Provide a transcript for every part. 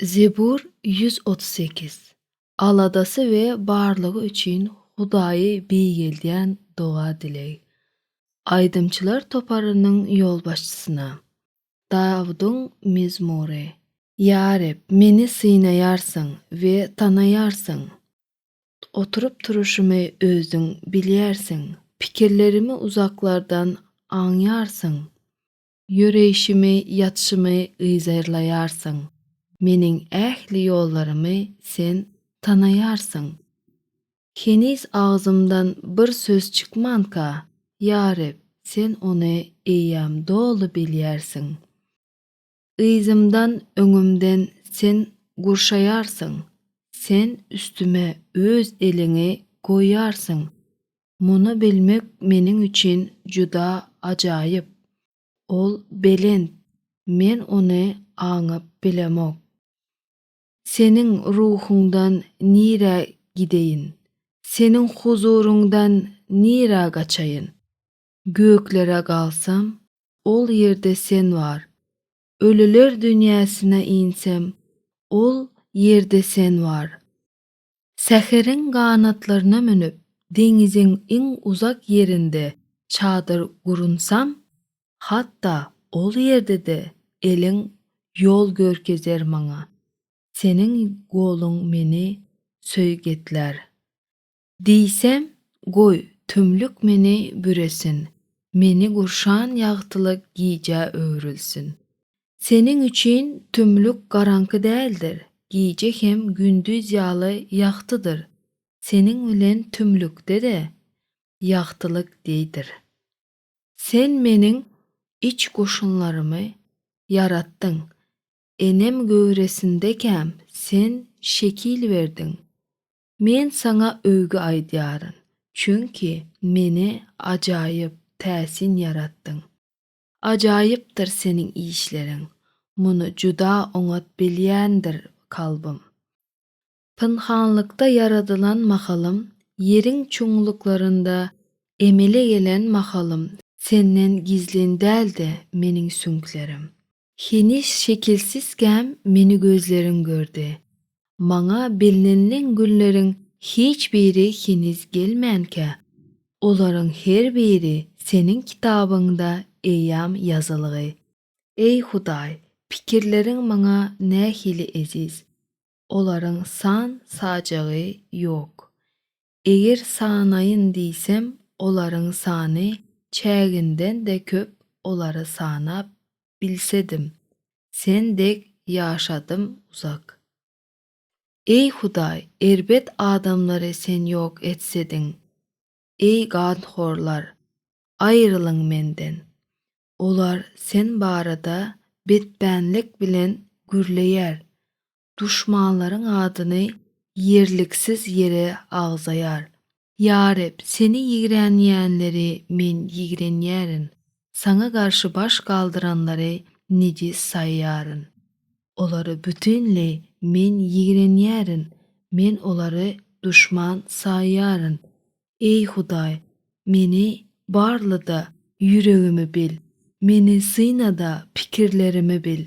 Zebur ýüz otuz sekiz. Aladasy we barlygy üçin Hudaýy beýgeldýän doga-dileg. Aýdymçylar toparynyň ýolbaşçysyna. Dawudyň mezmury. Ýa Reb, meni synaýarsyň we tanaýarsyň. Oturyp-turuşymy Özüň bilýärsiň. Pikirlerimi uzaklardan aňýarsyň. Ýöreýşimi, ýatyşymy yzarlaýarsyň, meniň ähli ýollarymy Sen tanaýarsyň. Heniz agzymdan bir söz çykmanka, ýa Reb, Sen ony eýýäm doly bilýärsiň. Yzymdan, öňümden Sen gurşaýarsyň, Sen üstüme Öz eliňi goýýarsyň, Muny bilmek meniň üçin juda ajaýyp. Ol belent, men ony aňyp bilemok. Seniň ruhuňdan nirä gideýin? Seniň huzuryňdan nirä gaçaýyn? Göklere galsam, ol ýerde Sen bar. Ölüler dünýäsine insem, ol ýerde Sen bar. Säheriň ganatlaryna münüp, deňiziň iň uzak ýerinde çadyr gurunsam, hatda ol ýerde-de eliň ýol görkezer maňa, seniň goluň meni söýgetlär. Diýsem, goý, tümlük meni büresin, meni gurşan ýagtylyk gijä öwrülsin. Seniň üçin tümlük garaňky däldir, gije hem gündiz ýaly ýagtydyr, seniň bilen tümlükde-de ýagtylyk deýdir. Sen Meniň iç goşunlarymy ýaratdyň, enem göwresindekäm Sen şekil berdiň. Men Saňa öwgi aýdýaryn, çünki Meni ajaýyp, täsin ýaratdyň. Ajaýypdyr seniň işleriň, muny juda oňat bilýändir kalbym. Pynhanlykda ýaradylan mahalym, ýeriň çuňluklarynda emele gelen mahalym senden gizlin däldi meniň süňklerim. Heniz şekilsizkäm meni gözleriň gördi, Maňa bellenilen günleriň hiç biri heniz gelmänkä, olaryň her biri Seniň kitabyňda eýýam ýazylgy. Eý, Hudaý, pikirleriň maňa nähili eziz! Olaryň san-sajagy ýok. Eger sanaýyn diýsem olaryň sany çäginden-de köp olary sanap bilsedim sen dek ýaşadym uzak. Eý hudaý erbet adamlary sen ýok etsediň eý ganhorlar aýrylyň menden olar sen barada betbänlik bilen gürleýär duşmanlaryň adyny ýerliksiz ýere agzaýar. Ýa Reb, Seni ýigrenýänleri Men ýigrenýärin, Saňa garşy baş galdyranlary nejis saýýaryn. Olary bütinleý Men ýigrenýärin, Men olary duşman saýýaryn. Eý Hudaý, meni barla-da, ýüregimi bil, Meni syna-da, pikirlerimi bil.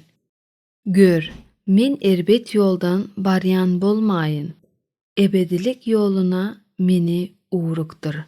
Gör, men erbet ýoldan barýan bolmaýyn, ebedilik ýoluna meni ugrukdyr.